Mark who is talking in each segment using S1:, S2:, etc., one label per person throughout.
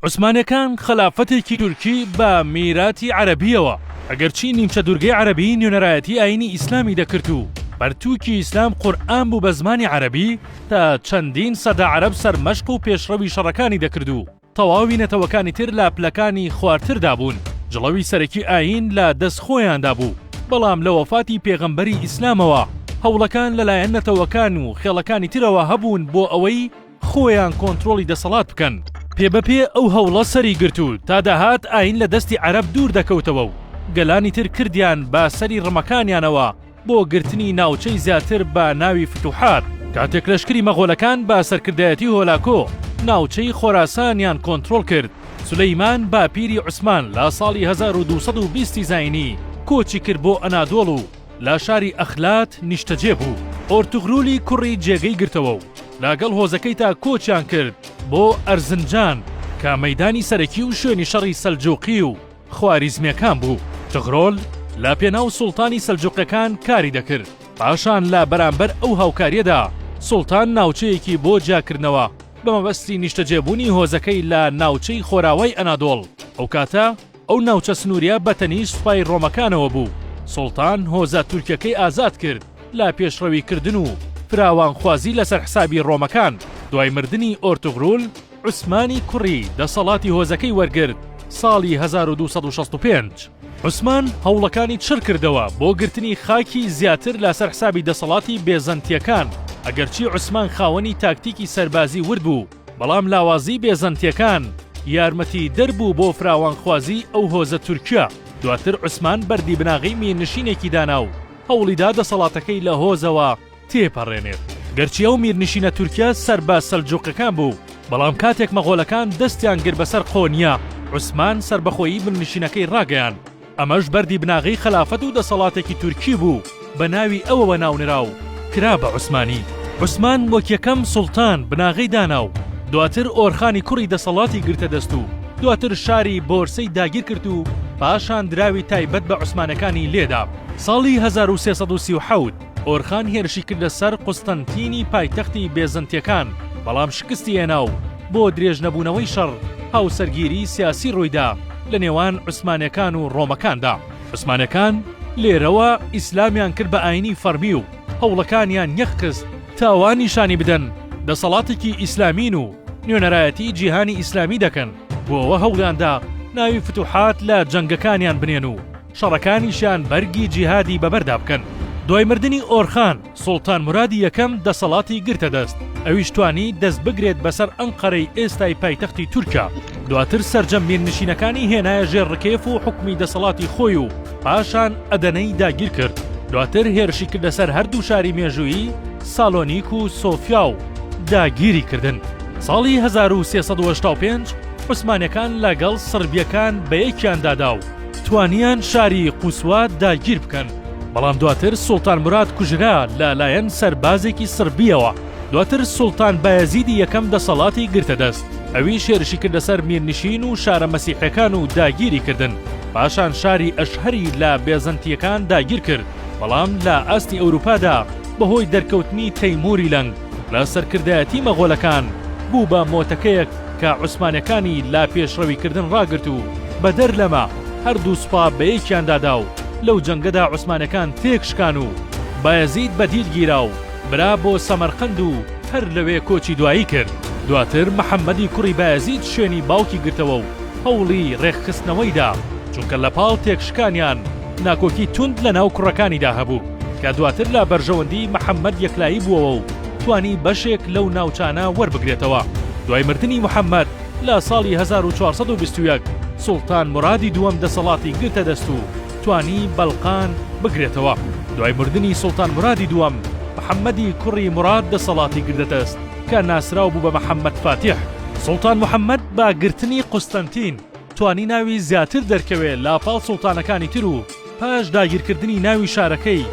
S1: عوسمانیەکان خەلافەتێکی تورکی بە میراتی عەرەبیەوە ئەگەرچی نیمچە دورگەی عەرەبی نوێنەرایەتی ئاینی ئیسلامی دەکرد و پەرتوکی ئیسلام قورئان بوو بە زمانی عەرەبی تا چەندین سەدە عەرەب سەرمەشق و پێشڕەوی شەڕەکانی دەکرد و تەواوی نەتەوەکانی تر لە پلەکانی خوارتردا بوون جڵەوی سەرەکی ئاین لە دەست خۆیاندا بوو بەڵام لە وەفاتی پێغەمبەری ئیسلامەوە هەوڵەکان لەلایەن نەتەوەکان و خێڵەکانی ترەوە هەبوون بۆ ئەوەی خۆیان کۆنترۆڵی دەسەڵات بکەن. پێبەپێ ئەو هەوڵە سەری گرت و تا دەهات ئایین لە دەستی عەرەب دوور دەکەوتەوە و گەلانی تر کردیان بە سەری ڕمەکانیانەوە بۆ گرتنی ناوچەی زیاتر بە ناوی فتوحات. کاتێک لەشکری مەغۆلەکان بە سەرکردایەتی هۆلاکۆ ناوچەی خۆراسانیان کۆنترۆڵ کرد، سولەیمان باپیری عوسمان لە ساڵی هەزار و دوو سەد و بیست زاینی کۆچی کرد بۆ ئەنادۆڵ و، لە شاری ئەخلات نیشتەجێ بوو، ئۆرتوغرولی کوڕی جێگەی گرتەوە و لەگەڵ هۆزەکەیتا کۆچیان کرد بۆ ئەرزنجان کە مەیدانی سەرەکی و شوێنی شەڕی سەلجووقی و خواریزمییەکان بوو. تغرۆل لە پێناو سوڵتانی سەلجووقەکان کاری دەکرد، پاشان لە بەرامبەر ئەو هاوکارییەدا سوڵتان ناوچەیەکی بۆ جیاکردنەوە بە مەبەستی نیشتەجێبوونی هۆزەکەی لە ناوچەی خۆراوای ئەنادۆڵ ئەو کاتە، ئەو ناوچە سنووریە بە تەنیشت سوپای ڕۆمەکانەوە بوو. سوڵتان هۆزە تورکەکەی ئازاد کرد لە پێشڕەوی کردن و فراوانخوازی لەسەر حسابی ڕۆمەکان. دوای مردنی ئۆرتوغرول، عوسمانی کوڕی دەسەڵاتی هۆزەکەی وەرگرت ساڵی هەزار و دوو سەد و شەست و پێنج. عوسمان هەوڵەکانی چڕ کردەوە بۆ گرتنی خاکی زیاتر لەسەر حسابی دەسەڵاتی بێزەنتیەکان، ئەگەرچی عوسمان خاوەنی تاکتیکی سەربازی ورد بوو. بەڵام لاوازی بێزەنتیەکان یارمەتی دەر بوو بۆ فراوانخوازی ئەو هۆزە تورکیە، دواتر عوسمان بەردی بناغەی میرنشینێکی دانا و هەوڵیدا دەسەڵاتەکەی لە هۆزەوە تێپەڕێنێت. گەرچی ئەو میرنشینە تورکیە سەر بە سەلجوقەکان بوو، بەڵام کاتێک مەغۆلەکان دەستیان گرت بەسەر قۆنیە، عوسمان سەربەخۆیی میرنشینەکەی ڕاگەیاند ئەمەش بەردی بناغەی خەلافەت و دەسەڵاتێکی تورکی بوو بە ناوی ئەوەوە ناونرا و کرا بە عوسمانی. عوسمان وەک یەکەم سوڵتان بناغەی دانا و دواتر ئۆرخانی کوڕی دەسەڵاتی گرتە دەست و دواتر شاری بۆرسەی داگیر کرد و پاشان دراوی تایبەت بە عوسمانەکانی لێدا. ساڵی هەزار و سێ سەد و سی و حەوت ئۆرخان هێرشی کردە سەر قوستەنتینی پایتەختی بێزەنتیەکان، بەڵام شکستی هێنا و بۆ درێژ نەبوونەوەی شەڕ، هاوسەرگیری سیاسی ڕوویدا لە نێوان عوسمانەکان و ڕۆمەکاندا. عوسمانەکان لێرەوە ئیسلامیان کرد بە ئاینی فەرمی و هەوڵەکانیان یەخ خست تا وا نیشانی بدەن دەسەڵاتێکی ئیسلامین و نوێنەرایەتی جیهانی ئیسلامی دەکەن، بۆ ئەوە هەوڵیاندا ناوی فتوحات لە جەنگەکانیان بنێن و، شەڕەکانیشیان بەرگی جیهادی بەبەردا بکەن. دوای مردنی ئۆرخان، سوڵتان مورادی یەکەم دەسەڵاتی گرتە دەست، ئەویش توانی دەست بگرێت بەسەر ئەنقەرەی ئێستای پایتەختی تورکیا، دواتر سەرجەم میرنشینەکانی هێنایە ژێر ڕکێف و حوکمی دەسەڵاتی خۆی و پاشان ئەدەنەی داگیر کرد، دواتر هێرشی کردە سەر هەردوو شاری مێژوویی سالۆنیک و سۆفیا و داگیری کردن. ساڵی هەزار و سێ سەد و هەشتا و پێنج عوسمانیەکان لەگەڵ سڕبیەکان بەیەکیان دادا و توانیان شاری قوسوا داگیر بکەن، بەڵام دواتر سوڵتان مراد کوژرا لە لایەن سەربازێکی سڕبییەوە، دواتر سوڵتان بایەزیدی یەکەم دەسەڵاتی گرتە دەست، ئەویش هێرشی کردە سەر میرنشین و شارە مەسیحیەکان و داگیری کردن، پاشان شاری ئەشهەری لە بێزەنتییەکان داگیر کرد، بەڵام لە ئاستی ئەوروپادا بەهۆی دەرکەوتنی تەیموری لەنگ، لە سەرکردایەتی مەغۆلەکان بوو بە مۆتەکەیەک کە عوسمانەکانی لە پێشڕەوی کردن ڕاگرت و بەدەر لەمە هەردوو سوپا بەیەکیاندا دا و لەو جەنگەدا عوسمانەکان تێک شکان و بایەزید بە دیل گیرا و برا بۆ سەمەرقەند و هەر لەوێ کۆچی دوایی کرد. دواتر محەمەدی کوڕی بایەزید شوێنی باوکی گرتەوە و هەوڵی ڕێکخستنەوەی دا چونکە لە پاڵ تێک شکانیان، ناکۆکی توند لە ناو کوڕەکانیدا هەبوو کە دواتر لە بەرژەوەندی محەممەد یەکلایی بووەوە و توانی بەشێک لەو ناوچانە وەربگرێتەوە. دوای مردنی محەممەد لە ساڵی هەزار و چوار سەد و بیست و یەک سوڵتان مورادی دووەم دەسەڵاتی گرتە دەست و توانی بەلقان بگرێتەوە. دوای مردنی سوڵتان مورادی دووەم، محەممەدی کوڕی موراد دەسەڵاتی گرتە دەست کە ناسراو بوو بە محەممەد فاتیح. سوڵتان محەممەد بە گرتنی قوستەنتین، توانی ناوی زیاتر دەرکەوێ لاپاڵ سوڵتانەکانی تر و پاش داگیرکردنی ناوی شارەکەی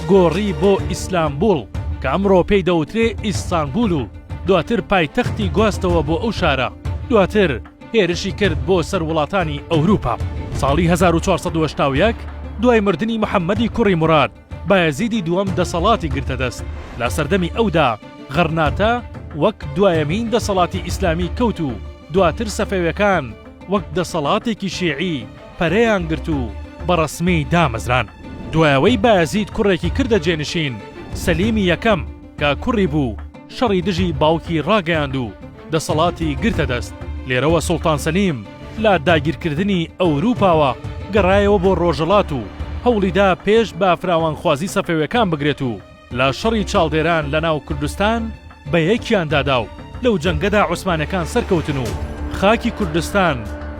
S1: گۆڕی بۆ ئیسلامبوڵ کە ئەمڕۆ پێی دەوترێ ئیستانبول و دواتر پایتەختی گواستەوە بۆ ئەو شارە دواتر هێرشی کرد بۆ سەر وڵاتانی ئەوروپا ساڵی هەزار و چوار سەد و هەشتا و یەک دوای مردنی محەمەدی کوڕی موراد بایەزیدی دووەم دەسەڵاتی گرتە دەست، لە سەردەمی ئەودا غەڕناتە وەک دوایەمین دەسەڵاتی ئیسلامی کەوت و دواتر سەفەوێکان وەک دەسەڵاتێکی شیعی پەرەیان گرت و بە ڕەسمی دامەزران. دوای ئەوەی بایەزید کوڕێکی کردە جێنشین، سەلیمی یەکەم، کە کوڕی بوو، شەڕی دژی باوکی ڕاگەیاند و، دەسەڵاتی گرتە دەست، لێرەوە سوڵتان سەلیم لە داگیرکردنی ئەوروپاوە گەڕایەوە بۆ ڕۆژەڵات و هەوڵیدا پێش بە فراوانخوازی سەفەوێکان بگرێت و لە شەڕی چاڵدێران لە ناو کوردستان بە یەکیان دادا و لەو جەنگەدا عوسمانەکان سەرکەوتن و خاکی کوردستان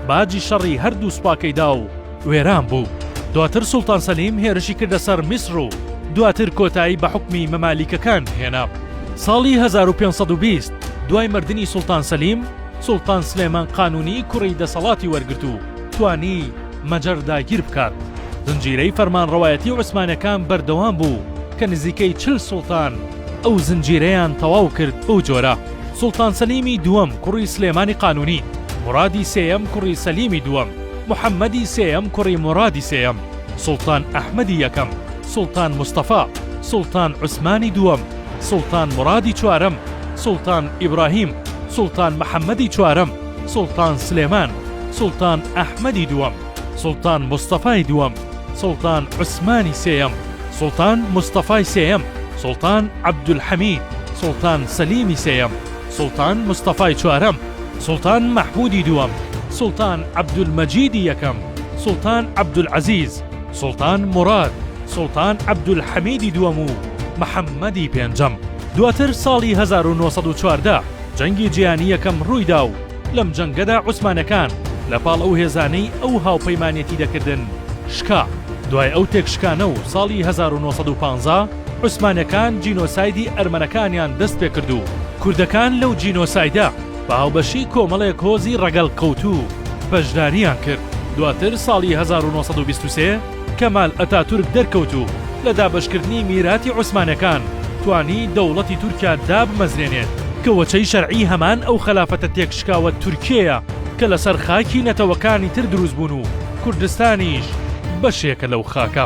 S1: باجی شەڕی هەردوو سوپاکەی دا و وێران بوو. دواتر سوڵتان سەلیم هێرشی کردە سەر میسر و دواتر کۆتایی بە حوکمی مەمالیکەکان هێنا. ساڵی هەزار و پێنج سەد و بیست دوای مردنی سوڵتان سەلیم، سوڵتان سلێمان قانوونی کوڕی دەسەڵاتی وەرگرت و توانی مەجەر داگیر بکات. زنجیرەی فەرمانڕەوایەتی عوسمانەکان بەردەوام بوو کە نزیکەی چل سوڵتان ئەو زنجیرەیان تەواو کرد، بەو جۆرە، سوڵتان سەلیمی دووەم کوڕی سلێمانی قانوونی، مورادی سێیەم کوڕی سەلیمی دووەم، محەمەدی سێیەم کوڕی مورادی سێیەم، سوڵتان ئەحمەدی یەکەم، سوڵتان مستەفا، سوڵتان عوسمانی دووەم، سوڵتان مورادی چوارەم، سوڵتان ئیبراهیم، سوڵتان محەمەدی چوارەم، سوڵتان سلێمان، سوڵتان ئەحمەدی دووەم، سوڵتان مستەفای دووەم، سوڵتان عوسمانی سێیەم، سوڵتان مستەفای سێیەم، سوڵتان عەبدولحەمید، سوڵتان سەلیمی سێیەم، سوڵتان مستەفای چوارەم، سوڵتان مەحموودی دووەم، سوڵتان عەبدولمەجیدی یەکەم، سوڵتان عەبدولعەزیز، سوڵتان موراد، سوڵتان عەبدولحەمیدی دووەم و محەممەدی پێنجەم. دواتر ساڵی هەزار و نۆ سەد و چواردە جەنگی جیهانی یەکەم ڕووی دا و لەم جەنگەدا عوسمانەکان لە پاڵ ئەو هێزانەی ئەو هاوپەیمانێتی دەکردن شکا. دوای ئەو تێکشکانە و ساڵی هەزار و نۆ سەد و پانزە، عوسمانەکان جینۆسایدی ئەرمەنەکانیان دەست پێکرد و کوردەکان لەو جینۆسایدە بە هاوبەشی کۆمەڵێک هۆزی ڕەگەڵ کەوتوو بەشداریان کرد. دواتر ساڵی هەزار و نۆ سەد و بیست و سێ کەمال ئەتاتورک دەرکەوت و لە دابەشکردنی میراتی عوسمانەکان توانی دەوڵەتی تورکیا دابمەزرێنێت، کە وەچەی شەرعی هەمان ئەو خەلافەتە تێکشکاوە تورکیەیە کە لەسەر خاکی نەتەوەکانی تر دروست بوون و کوردستانیش بەشێکە لەو خاکە.